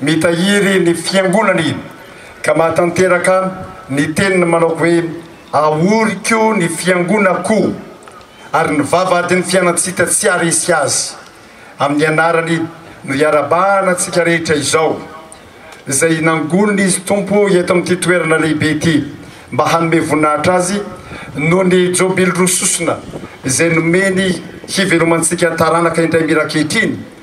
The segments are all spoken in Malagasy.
Mitahiry ny Fiangonana i, ka mahatanteraka ny teniny manao hoe, Ahoriko ny Fiangonako, ary ny vavahadin'ny fianantsika tsy haharesy azy. Amin'ny anarany no iarahabahana antsika rehetra izao, izay nangonina Izy Tompo eto amin'ity toerana lehibe ity, mba hanome voninahitra Azy noho ny Jobily roa sosona izay nomeny hivelomantsika taranaka indray mira ankehitriny,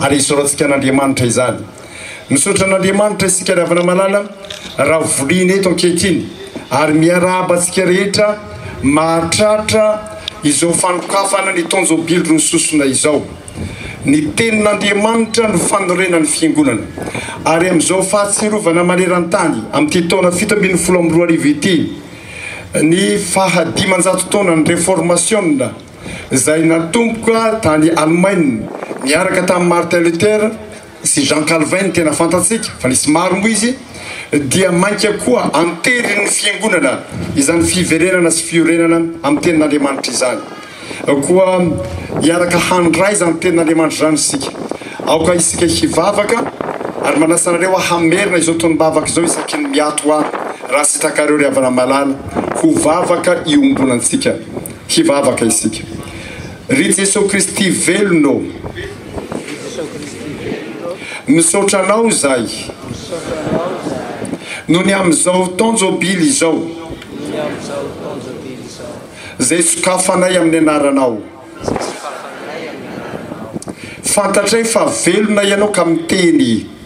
Ary hisoratsika an'Andriamanitra izany. Misaotra an'Andriamanitra isika ry havana malala raha voliana eto ankehitriny ary miarahaba antsika rehetra mahatratra izao fanokafana ny tonjobily roa sosona izao. Ny tenin'Andriamanitra no fanorenan'ny fiangonana ary amin'izao fahatsiarovana maneran-tany amin'ity taona fito ambin'ny folo amby roa arivo ity ny faha dimanjato taonan'ny reformasiona izay natomboka tany Alemaina niaraka tamin'i Martin Luther sy Jean Calvin ny tena fantatsika fa nisy maro moa izy dia mainka koa anterin'ny fiangonana izany fiverenana sy fiorenana amin'ny tenin'Andriamanitra izany koa hiaraka handray izany tenin'Andriamanitra izany isika aoka isika hivavaka ary manasa anareo hamerina izao tonom-bavaka izao isaky ny miato ahy raha sitrakareo ry havana malala ho vavaka iombonantsika Hivavaka isika. Ry Jesoa Kristy velona ô! Misaotra Anao izahay noho ny amin'izao taon-jobily izao izay sokafanay amin'ny Anaranao. Fantatray fa velona Ianao ka miteny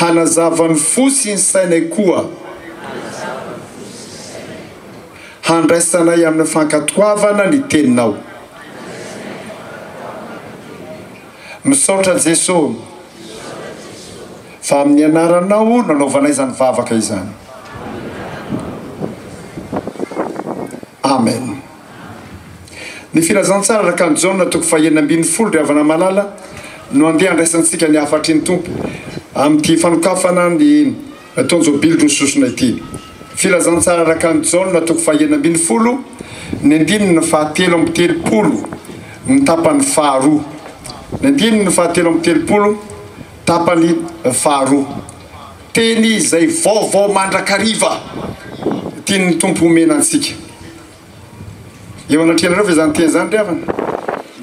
Hanazava ny fo sy ny sainay koa. Handraisanay amin'ny fankatoavana ny Teninao. Misaotra Jeso fa amin'ny Anaranao nanaovanay izany vavaka izany. Amen. Ny Filazantsara Rakan'i Jaona toko fahenina ambin'ny folo Ry havana malala no andeha handraisantsika ny hafatry ny Tompo amin'ity fanokafana ny Tonjobily roa sosona ity Filazantsara Rakan'i Jaona toko fahenina ambin'ny folo ny andininy fahatelo amby telopolo ny tapany faharoa ny andininy fahatelo amby telopolo tapany faharoa teny izay vaovao mandrakariva tian'ny Tompo homena antsika Eo anatrehanareo ve izany teny izany ry havana?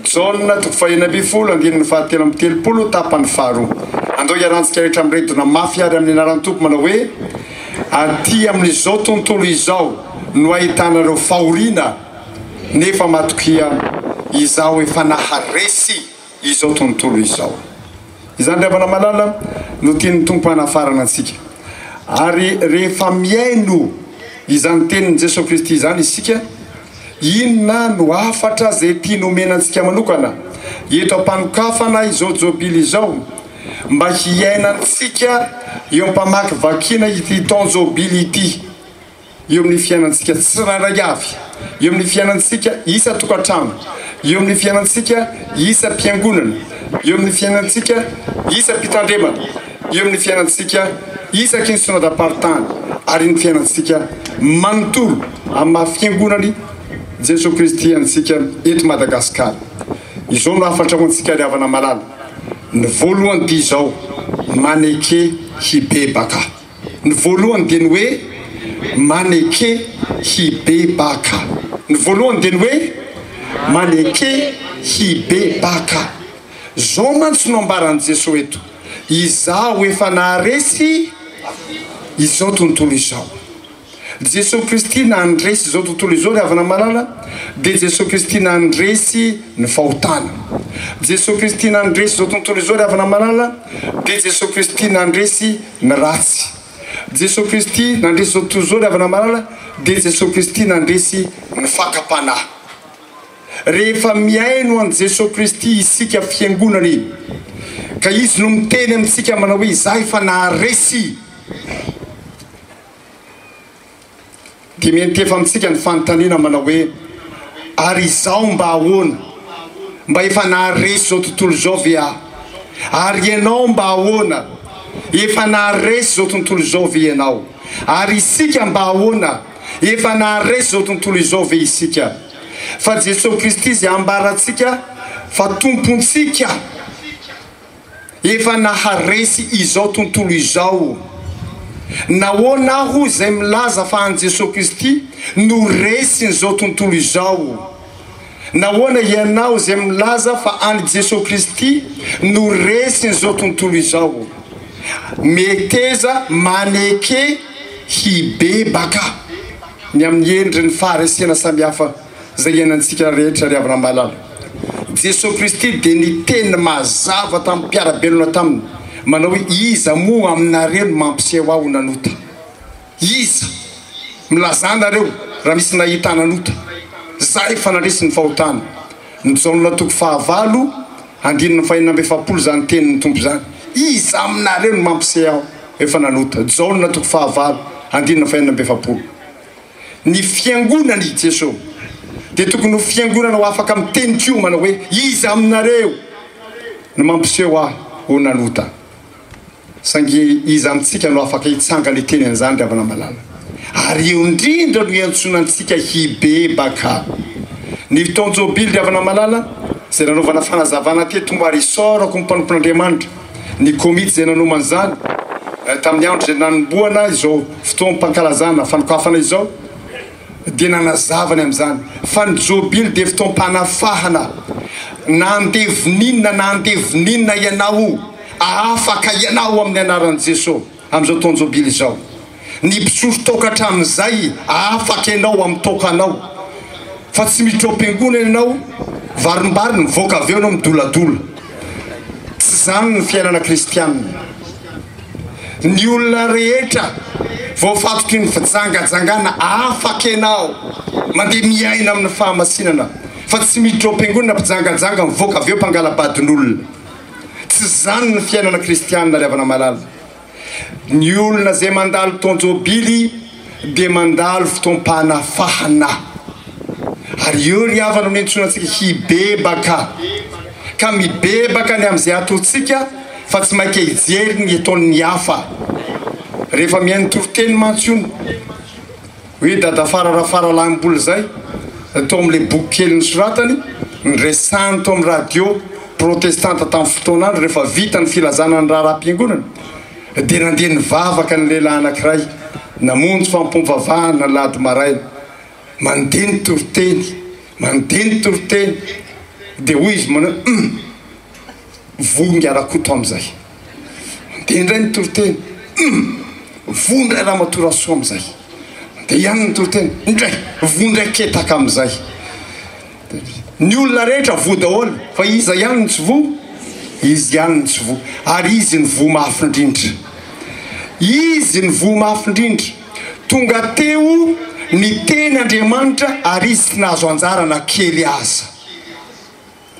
Jaona toko fahena ambin'ny folo andininy fahatelo amby telopolo tapany faharoa. Andao hiarantsika rehetra miredona mafy àry amin'ny anaran'ny Tompo manao hoe, Aty amin'izao tontolo izao no ahitanareo fahoriana, nefa matokia, Izaho efa naharesy. izao tontolo izao. Izany ry havana malala no tian'ny Tompo hanafarana antsika. Ary rehefa mihaino izany tenin'i Jesoa Kristy izany isika, inona no hafatra izay tiany homena antsika manokana eto am-panokafana izao jobily izao mba hiainantsika eo am-pamakivakiana ity taon-jobily ity? eo amin'ny fiainantsika tsirairay avy, eo amin'ny fiainantsika isan-tokantrano, eo amin'ny fiainantsika isam-piangonana, eo amin'ny fiainantsika isam-pitandremana, eo amin'ny fiainantsika isaky ny Synodam-paritany ary ny fiainantsika manontolo amin'ny maha Fiangonan'i Jesoa Kristy antsika eto Madagasikara. Izao no hafatra ho antsika ry havana malala, ny voalohany dia izao, maneke hibebaka. Ny voalohany dia ny hoe maneke hibebaka. Ny voalohany dia ny hoe maneke hibebaka. Izao mantsy no ambaran'i Jesoa eto, Izaho efa naharesy izao tontolo izao. Jesosy Kristy nandresy izao tontolo izao ry havana malala dia Jesosy Kristy nandresy ny fahotana Jesosy Kristy nandresy izao tontolo izao ry havana malala dia Jesosy Kristy nandresy ny ratsy Jesosy Kristy nandresy izao tontolo izao ry havana malala dia Jesosy Kristy nandresy ny fakam-panahy rehefa mihaino an'i Jesosy Kristy isika fiangonana e ka izy no miteny amintsika manao hoe izaho efa naharesy Dia miantefa amintsika ny fanontaniana manao hoe, Ary izaho mba ahoana? Mba efa naharesy izao tontolo izao ve aho? Ary ianao mba ahoana? Efa naharesy izao tontolo izao ve ianao? Ary isika mba ahoana? Efa naharesy izao tontolo izao ve isika? Fa Jesoa Kristy izay ambarantsika fa Tompontsika. Efa naharesy izao tontolo izao. Nahoana aho izay milaza fa an'i Jesoa Kristy no resin'izao tontolo izao? Nahoana ianao izay milaza fa an'i Jesoa Kristy no resin'izao tontolo izao? Meteza maneke hibebaka ny amin'ny endriny faharesena samihafa. Izay iainantsika rehetra ry havana malala. Jesoa Kristy dia niteny mazava tamin'ny mpiara-belona taminy manao hoe iza moa aminareo no mampiseho aho nanota? Iza? Milazà nareo raha misy nahita ahy nanota. Zah efa nandresy ny fahotana. Jaona toko fahavalo andininy fahenina amby efapolo izany tenin'ny Tompo izany. Iza aminareo no mampiseho aho efa nanota? Jaona toko fahavalo andininy fahenina amby efapolo. Ny Fiangonan' i Jeso dia tokony ho fiangonana ho afaka miteny koa manao hoe, Iza aminareo no mampiseho ahy ho nanota? Saingy iza amintsika no afaka hitsangana hiteny an' izany ry havana malala? Ary eo indrindra no iantsoana antsika hibebaka. Ny fotoan-jobily ry havana malala, izay nanaovana fanazavana teto mba ary isaorako ny mpanompon'Andriamanitra, Ny komity izay nanomana izany tamin'ny andro izay nanombohana izao fotoam-pankalazana fanokafana izao dia nanazava ny amin'izany fa ny Jobily dia fotoam-panafahana na andevo n'inona na andevo n'inona ianao, ahafaka ianao amin'ny anaran'i Jeso. Amin'izao taon-jobily izao, ny mpisolo toaka hatramin'izay afaka ianao amin'ny toakanao fa tsy miditra ao am-piangonana ianao, varimbary ny mivoaka avy eo ianao midoladola. Tsy izany ny fiainana kristianina. Ny olona rehetra voafatotry ny fijangajangana afaka ianao mandeha miaina amin'ny fahamasinana fa tsy miditra ao am-piangonana mpijangajanga mivoaka avy eo mpangala-badin'olona. Tsy izany ny fiainana kristianina ry havana malala. Ny olona izay mandalo fotoan-jobily dia mandalo fotoam-panafahana. Ary io ry havana no iantsoana antsika hibebaka. Ka mibebaka ny amin'izay ataontsika fa tsy mainka hijery ny ataon'ny hafa. Rehefa mihaino toriteny mantsy hono. Hoe Dadafara Rafaralahimbola izay, tao amin'ilay boky kely nosoratany, noresahiny tao amin'ny radio protestanta tamin'ny fotoana andro rehefa vita ny filazana ny raharaham-piangonana, dia nandeha nivavaka ny lehilahy anankiray namonjy fampom-pavahana alahady maraina. Mandeha ny toriteny, mandeha ny toriteny, dia hoy izy manao, Hum! Vonga Rakoto amin'izay dia indray ny toriteny, hum! Voa indray Ramatoa Rasoa amin'izay dia ihany ny toriteny, indray! Voa indray Ketaka amin'izay dia ny olona rehetra voa daholo fa iza ihany no tsy voa? Izy ihany no tsy voa ary izy no voa mafy indrindra. Izy no voa mafy indrindra. Tonga teo niteny Andriamanitra ary izy tsy nahazo anjara na kely aza.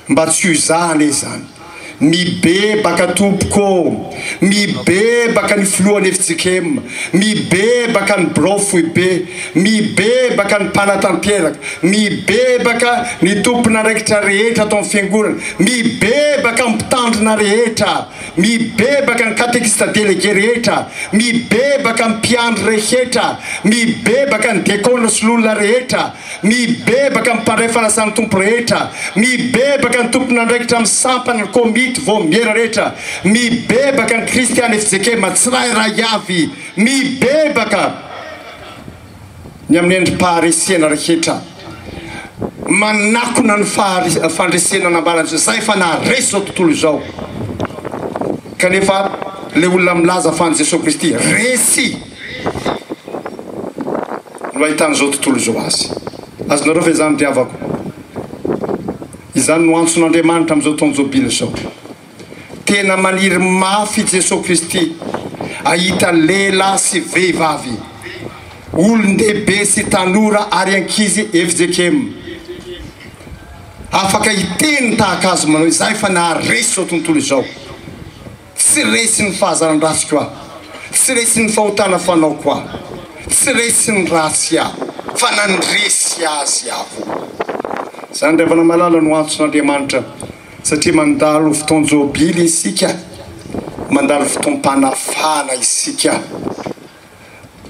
Mba tsy ho za anie izany. Mibebaka tompoko ô! Mibebaka ny filohan'ny fjkm, mibebaka ny birao foibe, mibebaka ny mpanatanteraka, mibebaka ny tompon'andraikitra rehetra ato amin'ny fiangonana, mibebaka ny mpitandrina rehetra, mibebaka ny katekista delege rehetra, mibebaka ny mpiandry rehetra, mibebaka ny dekona sy lolona rehetra, Mibebaka ny mpandray fanasan'ny Tompo rehetra, mibebaka ny tompon'andraikitra amin'ny sampana, ny komity, vaomiera rehetra, mibebaka ny kristiana FJKM tsirairay avy, mibebaka ny amin'ny endri-paharesena rehetra manakona ny fandresena nambaran'izao, izay efa naharesy izao tontolo izao, kanefa ilay olona milaza fa an'i Jesoa Kristy resy. Izy no ahitan'izao tontolo izao azy. Azonareo ve izany ry havako? Izany no antson'Andriamanitra amin'izao taona Jobily izao. Tena maniry mafy i Jesoa Kristy hahita lehilahy sy vehivavy, olon-dehibe sy tanora ary ankizy fjkm afaka hiteny tahaka Azy manao izay fa naharesy izao tontolo izao. Tsy resy ny fahazaran-drasiko aho, tsy resy ny fahotana fanaoko aho, tsy resy ny ratsy aho, fa nandresy azy aho. Izany ry havana malala no antson'Andriamanitra, satria mandalo fotoan-jobily isika, mandalo fotoam-panafahana isika.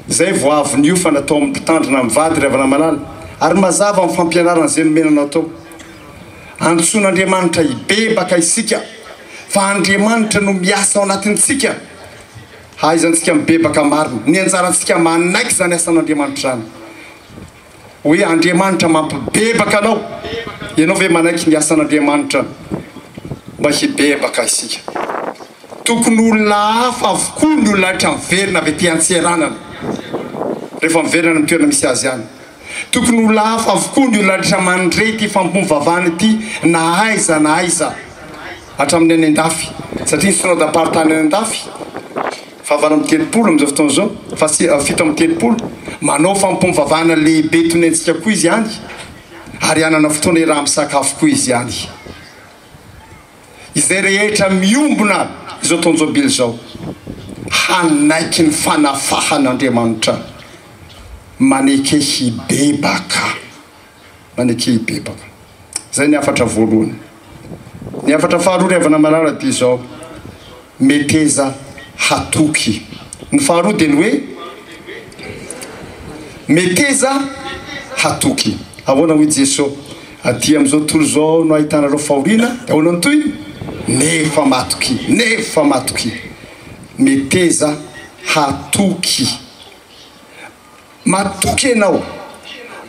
izay vao avy niofana tao amin'ny mpitandrina amin'ny vady ry Havanamalala ary mazava amin'ny fampianarana izay nomenanao tao. Antsoin'Andriamanitra hibebaka isika fa Andriamanitra no miasa ao anatintsika. Hahaizantsika mibebaka marina. Ny anjarantsika manaiky izany asan'Andriamanitra izany. Hoe Andriamanitra mampibebaka anao. Ianao ve manaiky ny asan'Andriamanitra mba hibebaka isika? Tokony ho olona hafa avokoa ny olona rehetra miverina avy aty an-tseranana, rehefa miverina any amin'ny toerana misy azy any. Tokony ho olona hafa avokoa ny olona rehetra mandre ity famompom-bavahana ity na aiza na aiza, hatramin'ny any an-dafy, satria ny Synoda-paritany any an-dafy, fahavalo amby telopolo amin'izao fotoana izao, fa tsy fito amby telopolo, manao fampivavahana lehibe toy ny antsika koa izy any, ary hanana fotoana iaraha-misakafo koa izy any. Izay rehetra miombona izao taon-jobily izao, hanaiky ny fanafahan'Andriamanitra, maneke hibebaka. maneke hibebaka. Izay ny hafatra voalohany. Ny hafatra faharoa ry havana malala dia izao, meteza hatoky. Ny faharoa dia ny hoe, meteza hatoky. Ahoana hoy Jeso, aty amin'izao tontolo izao no ahitanareo fahoriana, dia ahoana ny tohiny? Nefa matoky, nefa matoky. Meteza hatoky. Matoky ianao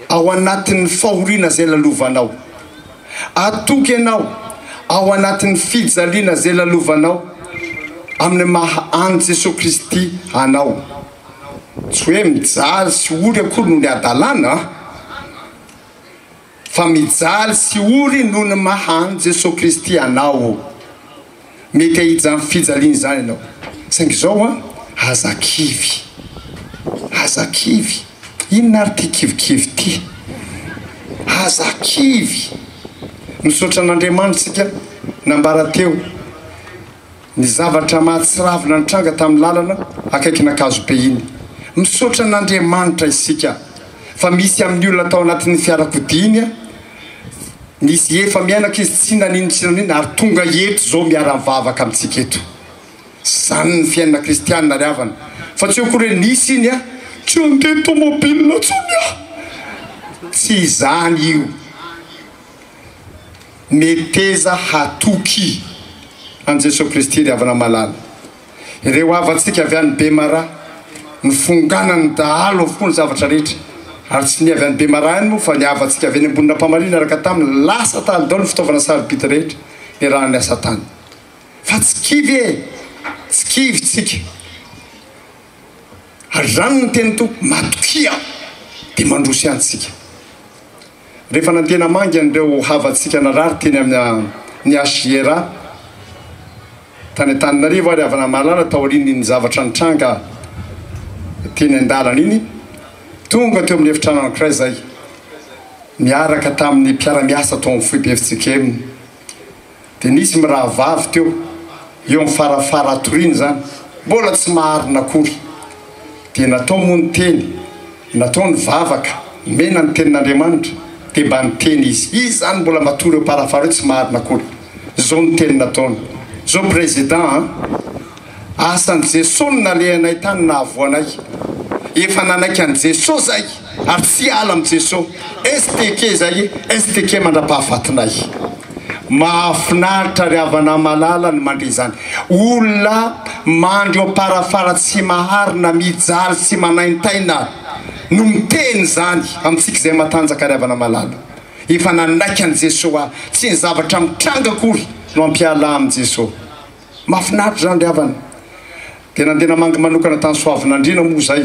ao anatin'ny fahoriana izay lalovanao. Atoky ianao ao anatin'ny fijaliana izay lalovanao amin'ny maha an'i Jesoa Kristy anao. Tsy hoe mijaly sy ory akory no ny hadalana an! Fa mijaly sy ory noho ny maha an'i Jesoa Kristy anao o. Mety hahija amin'ny fijaliana izany ianao. Saingy izao ho'a, aza kivy. Aza kivy. Inona ary ity kivikivy ity? Aza kivy. Misaotra an'Andriamanitra isika nambara teo. ny zavatra mahatsiravina nitranga tamin'ny lalana akaikin'Ankazobe iny. Misaotra an'Andriamanitra isika fa misy amin'ny olona tao anatin'ny fiarakodiany nisy efa miainaka izy tsy nanino tsy nanino ary tonga eto izao miara-mivavaka amintsika eto. Izany ny fiainana kristianina ry havana fa tsy eo akory hoe nisy iny a! tsy handeha tomobile intsony aho! tsy izany io. Meteza hatoky an'i Jesoa Kristy ry havana malala. Ireo havantsika avy any Bemaraha no fonganan'ny dahalo avokoa ny zavatra rehetra. Ary tsy ny avy any Bemaraha ihany moa fa ny havantsika avy eny Ambonin'Ampamarihy niaraka taminy lasa tany daholo ny fitaovana sarobidy rehetra niarahany niasa tany. Fa tsy kivy e! Tsy kivy tsika. Ary izany no teny Tompo, matokia dia mandroso ihany isika. Rehefa nantena mangy an'ireo havantsika narary teny amin'ny HJRA tany Antananarivo ary havana mahalala taorian'iny zavatra nitranga teny an-dalana iny, tonga teo amin'ny efitrano anankiray izahay niaraka tamin'ny mpiara-miasa tao amin'ny foibe FJKM. Dia nisy mirahavavy teo, eo amin'ny farafara hatoriana izany, mbola tsy maharina akory. Dia natao moa ny teny, natao ny vavaka, nomena ny Tenin'Andriamanitra. Dia mba niteny izy, izy izany mbola matory eo am-parafara eo, tsy maharina akory. Izao no teny nataony, izao Président a! Asan'i Jeso no nalehanay tany nahavoanay. Efa nanaiky an'i Jeso zay ary tsy hiala amin'i Jeso. STK zay e! STK mandrapahafatinay. Mahafinaritra ry havana malala ny mandre izany. Olona mandry eo am-parafara tsy maharina, mijaly sy manaintaina no miteny izany amintsika izay matanjaka ry havana malala. Efa nanaiky an'i Jeso aho. Tsy ny zavatra mitranga akory no hampiala ahy amin'i Jeso. Mafinaritra izany ry havana. Dia nandeha namangy manokana tany Soavinandriana moa izay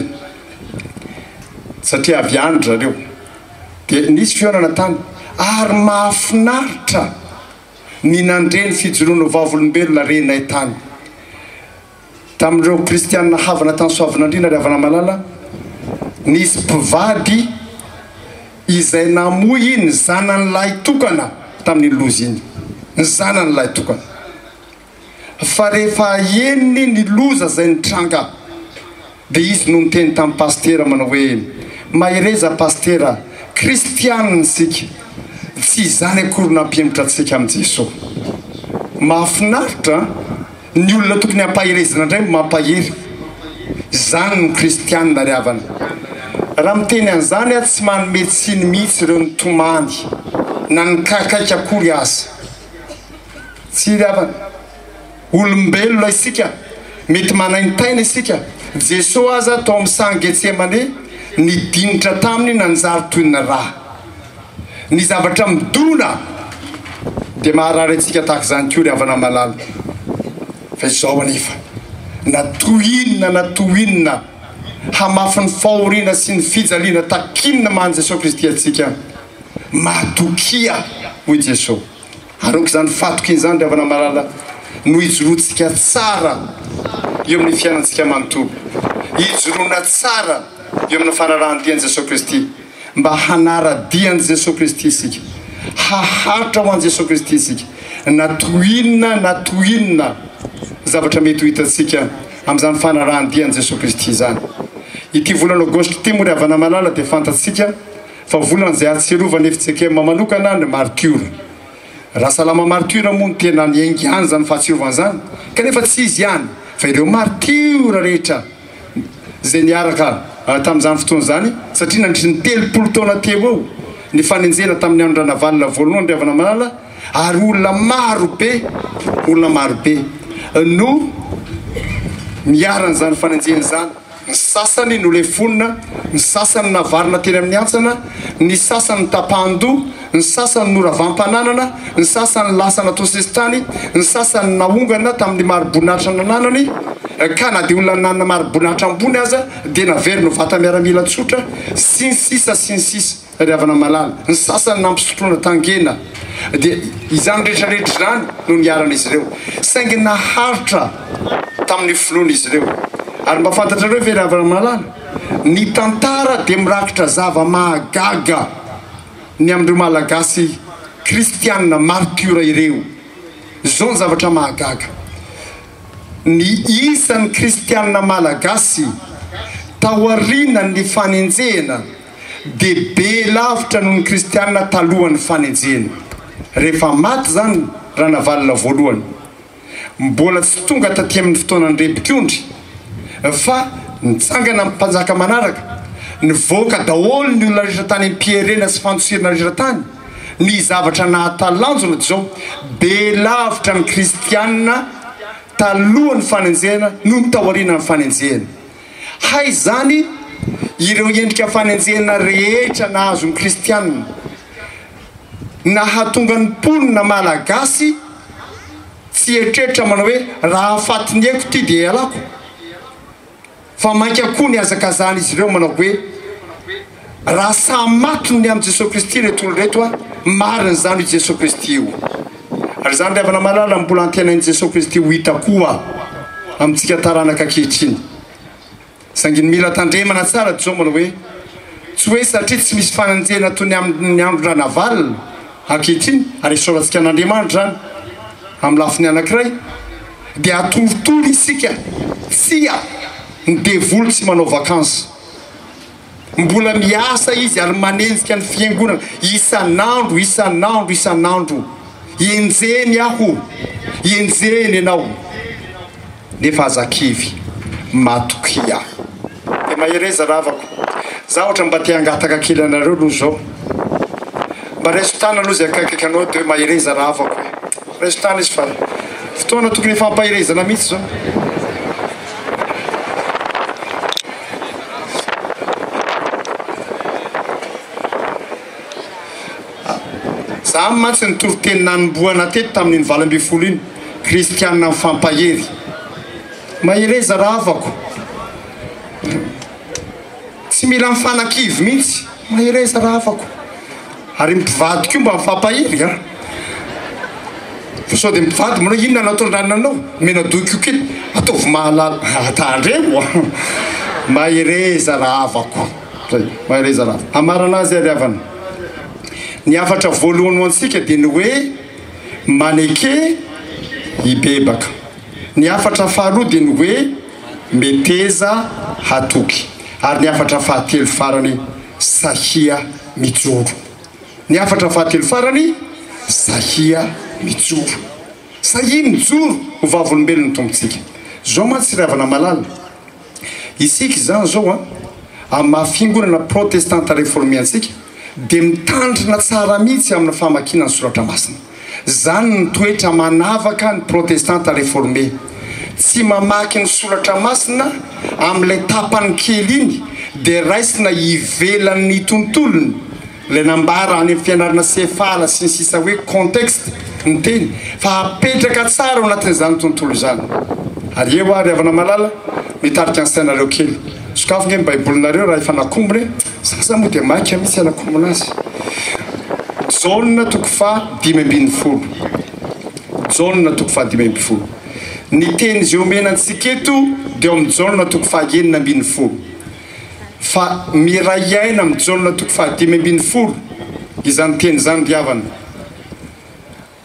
satria avy any ry zareo. Dia nisy fihaonana tany ary mahafinaritra ny nandre ny fijoroan'ireo Vavolombelona renay tany. Tamin'ireo Kristianina havana tany Soavinandriana ry havana malala, nisy mpivady, izay namoy ny zanany lahy tokana tamin'iny loza iny, ny zanany lahy tokana. Fa rehefa henony ny loza izay nitranga dia izy no niteny tamin'i Pasitera manao hoe, Mahereza Pasitera, Kristianina isika, tsy izany akory nampihemotra antsika amin'i Jesoa. Mahafinaritra an! Ny olona tokony hampaherezina indray no mampahery. Izany ny kristianina ry havana. Raha miteny an'izany aho tsy manome tsiny mihitsy ireo nitomany na nikakaiky akory aza. Tsia ry havana. Olombelona isika, mety manaintaina isika. Jesoa aza tao amin'ny sahan'i Getsemane nidinitra taminy nanjary toy ny rà. Ny zavatra midona dia maharary antsika tahaka izany koa ry havana malala fa izao anefa na toy inona na toy inona hamafy ny fahoriana sy ny fijaliana takin'ny maha Jesoa Kristy antsika matokia hoy Jesoa. Arongo izany fatoky izany ry havana malala no hijoroantsika tsara eo amin'ny fiainantsika manontolo. Hijoroana tsara eo amina fanarahan-dia an'i Jesoa Kristy mba hanara-dia an'i Jesoa Kristy isika, haharitra ho an'i Jesoa Kristy isika na toy inona na toy inona zavatra mety ho hitantsika amin'izany fanarahan-dia an'i Jesoa Kristy izany. Ity volana Aogositra ity moa ry havana malala dia fantatsika Fa volana izay ahatsiarovana i Fitsekema manokana ny martiora. Rasalama martiora moa no tena niainga ihany izany fahatsiarovana izany, kanefa tsy izy ihany fa ireo martiora rehetra izay niaraka tamin'izany fotoana izany, satria nandritry ny telopolo taona teo eo ny fanenjehana tamin'ny andron-dRanavalona voalohany Andriavanamalala ary olona maro be, olona maro be no niharan'izany fanenjehana izany. Ny sasany nolefonina, ny sasany navarina teny amin'ny hantsana, ny sasany notapahan-doha, ny sasany noravam-pananana, ny sasany lasa natao sesitany, ny sasany naongana tamin'ny mari-boninahitra nananany, ka na dia olona nanana mari-boninahitra ambony aza dia naverina ho vata-miaramila tsotra, sy ny sisa sy ny sisa. Ry havana malala, ny sasany nampisotroina tangena, dia izany rehetra rehetra izany no niharan'izy ireo, saingy naharitra tamin'ny finoana izy ireo. Ary mba fantatrareo ve ry havana malala, ny tantara dia mirakitra zava-mahagaga ny amin'ireo Malagasy kristiana martiora ireo. Izao ny zavatra mahagaga, ny isan'ny kristiana malagasy taorianan'ny fanenjehana, dia be lavitra noho ny kristiana talohan'ny fanenjehana. Rehefa maty izany Ranavalona voalohany, mbola tsy tonga taty amin'ny fotoanan'ny Repikondry, fa nitsangana ny mpanjaka manaraka, nivoaka daholo ny olona rehetra tany am-pierena sy fantsirina rehetra tany, ny zavatra nahatalanjona dia izao, be lavitra ny kristiana talohan'ny fanenjehana noho ny taorianan'ny fanenjehana. Hay izany ireo endrika fanenjehana rehetra nahazo ny kristiana, nahatonga ny mponina malagasy tsy hieritreritra manao hoe raha fatinieko ity dia ialako, fa mainka koa nihazakazahan'izy ireo manao hoe, Raha samy maty ny amin'i Jesoa Kristy ireto olona ireto a, marina izany io Jesoa Kristy io. Ary izany ry havana malala no mbola antenain'i Jesoa Kristy ho hita koa amintsika taranaka ankehitriny. Saingy ny mila tandremana tsara Jomolo hoe, tsy hoe satria tsy misy fanenjehana toy ny amin'ny andron'i Ranavalona ankehitriny, ary esorantsika an'Andriamanitra izany amin'ny lafiny anankiray, dia atorotoro isika, tsia, ny devoly tsy manao vacances. Mbola miasa izy ary manenjika ny fiangonana isan'andro, isan'andro, isan'andro. Enjehiny aho, enjehiny ianao. Nefa aza kivy, matokia. Dia mahereza ry havako. Za ohatra mba te hangataka kely anareo aloha zao. Mba raiso tanana aloha zay akaikaiky anao de hoe mahereza ry havako e. Raiso tanana izy fa fotoana tokony hifampaherezana mihitsy zao. Za mantsy ny toriteny nanombohana teto tamin'iny valo ambin'ny folo iny, kristianina mifampahery. Mahereza rahavako. Tsy mila mifanakivy mihitsy. Mahereza rafako ary mpivady koa mba mifampahery a! Fa sao dia mpivady manao inona no ataondrany anao? Menadoa koa kely ataovy mahalala a! Tandremo a! Mahereza rahavako zay! Mahereza rahavako! Hamarana azy ary havana, ny hafatra voalohany ho antsika dia ny hoe maneke hibebaka, ny hafatra faharoa dia ny hoe. Meteza hatoky. Ary ny hafatra fahatelo farany, Sahia mijoro. Ny hafatra fahatelo farany, Sahia mijoro. Sahia mijoro ho vavolombelon'ny Tompontsika. Zao mantsy ry havana malala, isika izany zao an, amin'ny maha fiangonana protestanta reforme antsika dia mitandrina tsara mihitsy amin'ny famakiana ny soratra masina. Izany no toetra manavaka ny Protestanta Reforme. Tsy mamaky ny Soratra Masina amin'ilay tapany kely iny dia raisina ivelan'ny tontolony ilay nambara any amin'ny fianarana sefala sy ny sisa hoe contexte ny teny fa apetraka tsara ao anatin'izany tontolo izany. Ary eo ary havana malala mitarika ny sainareo kely. Sokafy nge ny baibolinareo raha efa nakombona e! Za za moa dia maika mitsy anakombona azy. Jaona toko faha dimy ambin'ny folo Jaona toko faha dimy ambin'ny folo Ny teny izay omena antsika eto dia ao amin'ny Jaona toko faha enina ambin'ny folo Fa miray aina amin'ny Jaona toko faha dimy ambin'ny folo izany teny izany ry havana.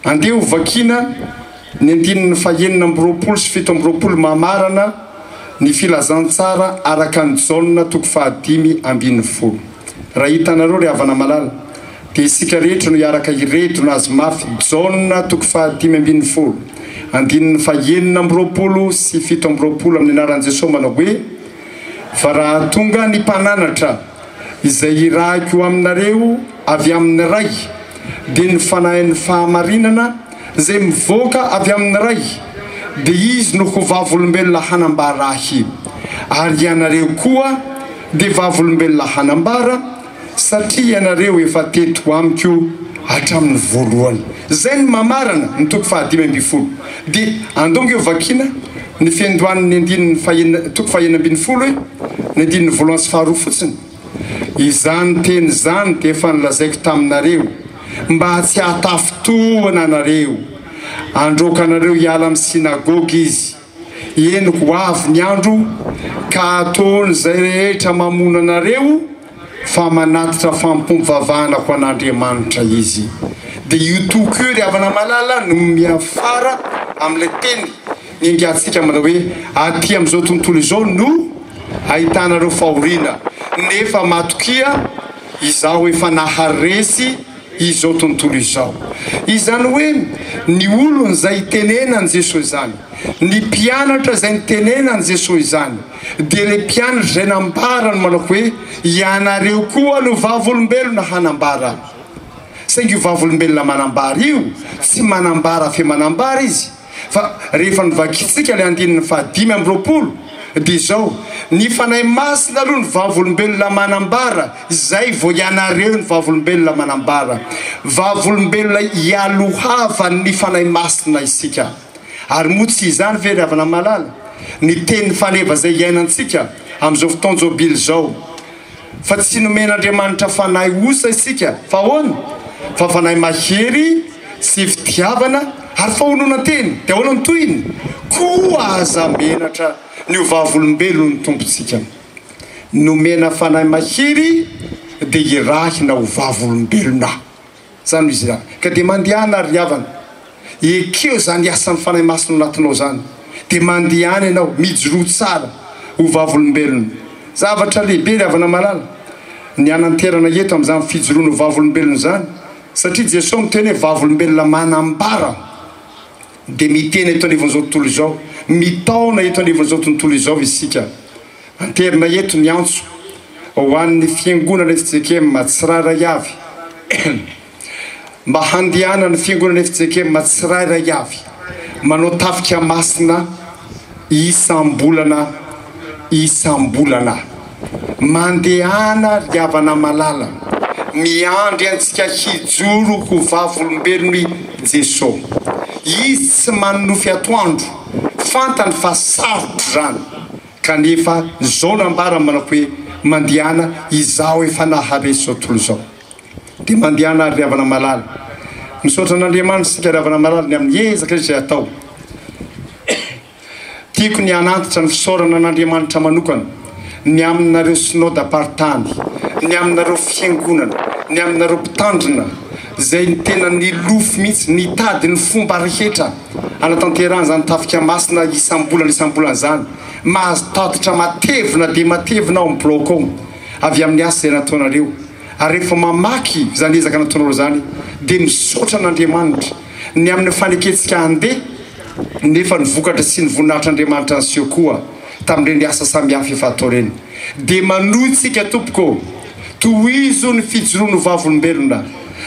Andeha ho vakiana ny andininy fahenina amby roapolo sy fito amby roapolo mamarana ny filazantsara araka an'i Jaona toko fahadimy ambin'ny folo. Raha hitanareo ry havana malala dia isika rehetra no hiaraka hiredona azy mafy Jaona toko fahadimy ambin'ny folo andininy fahenina amby roapolo sy fito amby roapolo amin'ny anaran'i Jesoa manao hoe, Fa raha tonga ny mpananatra izay hirahiko aminareo avy amin'ny Ray, dia ny Fanahin'ny fahamarinana izay mivoaka avy amin'ny Ray, dia Izy no ho vavolombelona hanambara Ahy, ary ianareo koa dia vavolombelona hanambara, satria ianareo efa teto amiko hatramin'ny voalohany. Izay no mamarana ny toko fahadimy ambin'ny folo. Dia andongo eo vakiana. Ny fiandohan' ny andininy fahenina, toko fahenina ambin'ny folo, ny andininy voalohany sy faharoa fotsiny. Izany teny izany dia efa nolazaiko taminareo, mba tsy hahatafintohina anareo. Handroaka anareo hiala amin'ny synagoga izy. Eny, ho avy ny andro, ka hataony izay rehetra mamono anareo, fa manatitra fampom-pivavahana ho an'Andriamanitra izy. Dia io toko io, ry havana malala, no miafara amin'ilay teny niangatsika manao hoe, Aty amin'izao tontolo izao no ahitana ireo fahoriana, nefa matokia, Izaho efa naharesy izao tontolo izao. Izany hoe, ny olona izay itenenan'i Jesoa izany, ny mpianatra izay nitenenan'i Jesoa izany, Dia ilay mpianatra izay nambarany manao hoe, Ianareo koa no vavolombelona hanambara. Saingy io vavolombelona manambara io, tsy manambara fe manambara izy. Fa rehefa novakintsika ilay andininy fahadimy amby roapolo, dia izao, Ny Fanahy Masina aloha no vavolombelona manambara, izay vao ianareo no vavolombelona manambara. Vavolombelona ialohavan'ny Fanahy Masina isika. Ary moa tsy izany ve ry havana malala ny teny faneva izay iainantsika amin'izao fotoan-jobily izao fa tsy nomen'Andriamanitra fanahy osa isika fa ahoana fa fanahy mahery sy fitiavana ary fahononan-tena dia ahoana ny tohiny koa aza menatra ny ho vavolombelon'ny Tompontsika nomena fanahy mahery dia hirahina ho vavolombelona zany izy ra ka de mandehana ary havana ekeo zany asan'ny fanahy masina anatinao zany de mandehana ianao mijoroa tsara ho vavolombelona zavatra lehibe ry havana malala ny hananterana eto amin'izany fijoroana ho vavolombelona izany satria Jesoa miteny hoe vavolombelona manambara de miteny eto anivon'izao tontolo izao mitaona eto anivon'izao tontolo izao isika Anterina eto ny antso ho an'ny Fiangonana FJKM tsirairay avy mba handehanan'ny Fiangonana FJKM tsirairay avy manao tafika masina isam-bolana isam-bolana. Mandehana ry havana malala, miandry antsika hijoro ho vavolombelon'i Jeso. Izy tsy manonofy atoandro. Fantany fa sarotra izany kanefa izao nambarany manao hoe, Mandehana izaho efa nahare izao tontolo izao. Dia mandehana àry ry havana malala. Misaotra an'Andriamanitra isika ry havana malala ny amin'ny ezaka izay atao. Tiako ny hanantitra ny fisaorana an'Andriamanitra manokana. ny aminareo Synodam-paritany, ny aminareo Fiangonana, ny aminareo Mpitandrina, izay ny tena nilofo mihitsy, nitady ny fomba rehetra hanatanterahana izany Tafika Masina isam-bolana isam-bolana izany. Mahazo tatitra matevina dia matevina ao amin'ny blaogy ao, avy amin'ny asa izay nataonareo. Ary rehefa mamaky izany ezaka nataonareo izany, dia misaotra an'Andriamanitra, ny amin'ny fanekentsika handeha, nefa ny vokatra sy ny voninahitr'Andriamanitra niseho koa. tamin'ireny asa samihafa efa atao ireny dia manohy tsika tompoko ô! tohizo ny fijoroany ho vavolombelona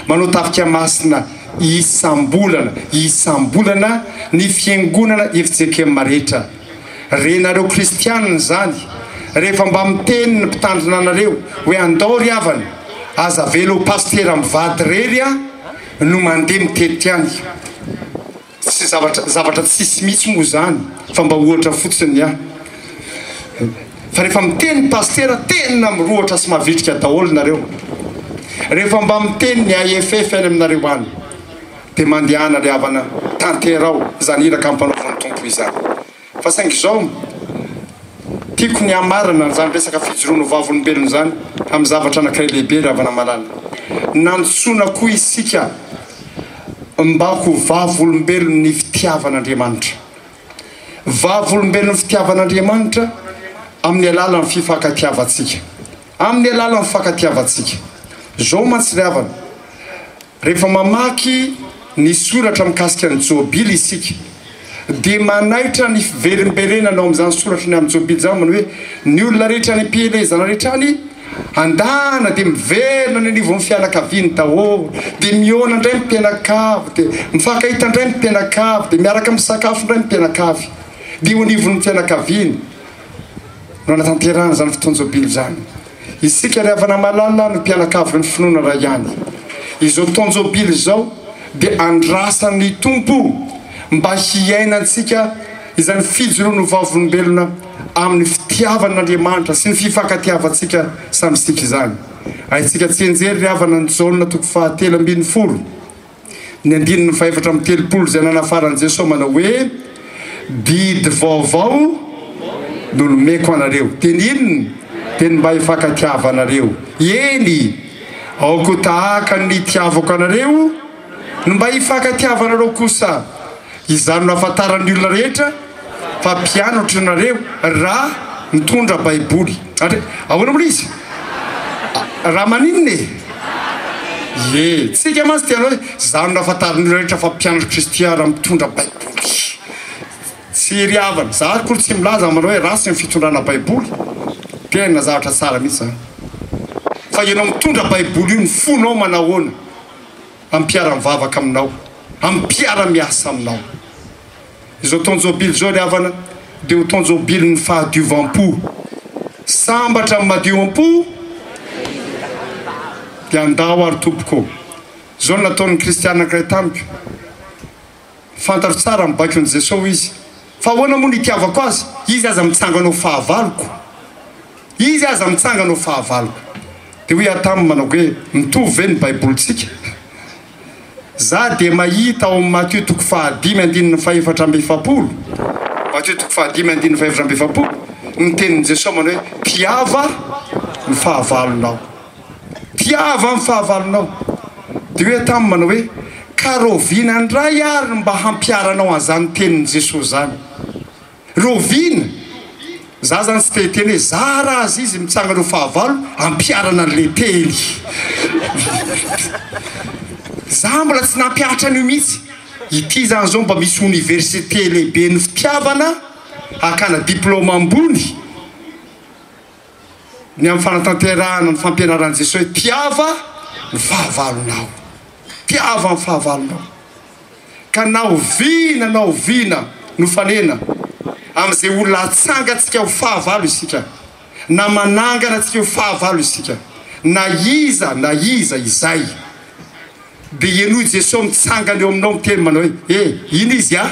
manao tafika masina isam-bolana isam-bolana ny fiangonana fjkm rehetra renareo kristianina izany rehefa mba miteny ny mpitandrina anareo hoe andao ry havana aza avela ho pasitera mivady irery no mandeha mitety any Tsy zavatra zavatra tsisy mihitsy moa izany fa mba ohatra fotsiny ny ahy. Fa rehefa miteny ny pasitera tena mirohotra sy mavitrika daholo nareo. Rehefa mba miteny ny AFF any aminareo any dia mandehana ry havana tanterao izany iraka ampanaovin'ny Tompo izany. Fa saingy izao, tiako ny hamarana an'izany resaka fijoroana ho vavolombelona izany amin'ny zavatra anankiray lehibe, ry havana malala. Nantsoina koa isika mba ho vavolombelon'ny fitiavan'Andriamanitra. Vavolombelon'ny fitiavan'Andriamanitra amin'ny alalan'ny fifankatiavantsika. Amin'ny alalan'ny fifankatiavantsika. Izao mantsy ry havana, Rehefa mamaky ny soratra mikasika ny Jobily isika, dia manaitra ny fiverimberenana ao amin'izany soratra ny amin'ny Jobily izany manao hoe, Ny olona rehetra any am-pielezana rehetra any, andana dia miverina any anivon'ny fianakaviany daholo, dia mihaona indray ny mpianakavy, dia mifankahita indray ny mpianakavy, dia miaraka misakafo indray ny mpianakavy. Dia eo anivon'ny fianakaviany no anatanterahana izany fotoan-jobily izany. Isika ry havana malala no mpianakavin'ny finoana iray ihany. Izao taon-jobily izao dia andrasan'ny Tompo mba hiainantsika izany fijoroana ho vavolombelona amin'ny fitiavan'Andriamanitra sy ny fifankatiavantsika samy isika izany. Haintsika tsianjery ry havana ny Jaona toko fahatelo ambin'ny folo. ny andininy fahefatra amby telopolo izay nanafaran'i Jesoa manao hoe, Didy vaovao no nomeko anareo. Teny inona? Teny mba hifankatiava anareo. Eny, aoka ho tahaka ny nitiavako anareo no mba hifankatiava anareo kosa. Izany no hahafantaran'ny olona rehetra fa mpianatro ianareo raha mitondra Baiboly. Ary ahoana moa ilay izy? Raha maninona e? Ie, tsika mantsy dia hanao hoe, Izany no hahafantaran'ny olona rehetra fa mpianatr'i Kristy aho raha mitondra Baiboly. Tsy ery havana. Izaho ary akory tsy milaza manao hoe ratsy ny fitondrana Baiboly. Tena zavatra tsara mihitsy izany. Fa ianao mitondra Baiboly io ny fonao manahoana? amin'ny mpiara-mivavaka aminao, amin'ny mpiara-miasa aminao. Izao taon-jobily izao ry havana dia ho taon-jobilin'ny fahadiovam-po. Sambatra amin'ny madio am-po dia andao ary tompoko ô. Izao no nataon'ny kristiana anankiray tamiko. Fantatro tsara ny baikon'i Jeso, hoy izy. Fa ahoana moa no itiavako azy? Izy aza mitsangana ho fahavaloko. Izy aza mitsangana ho fahavaloko. Dia hoy aho taminy manao hoe, mitovy ve ny Baibolintsika? Za dia mahita ao amin'ny Matio toko fahadimy andininy fahefatra amby efapolo, Matio toko fahadimy andininy fahefatra amby efapolo, ny tenin'i Jeso manao hoe, mpiava ny fahavalonao. Tiava ny fahavalonao. Dia hoe taminy manao hoe, Ka raoviana indray ary ny mba hampiharanao an'izany tenin'i Jesosy izany? Raoviana? Izaho izany tsy te-hiteny hoe zara azy izy mitsanga ireo fahavalo hampiharana an'ilay teny. Izaho mbola tsy nampihatra an'io mihitsy. Ity izany izao mba misy oniversite lehiben'ny fitiavana hakana diplaoma ambony. ny amin'ny fanatanterahana ny fampianaran'i Jesoa hoe tiava ny fahavalonao, tiava ny fahavalonao. Ka na oviana na oviana nofanena amin'izay olona atsangantsika ho fahavalo isika, na manangana antsika ho fahavalo isika, na iza na iza izay, dia henoy Jesoa mitsangana eo aminao miteny manao hoe, he, ino izy a?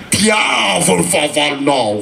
tiava ny fahavalonao.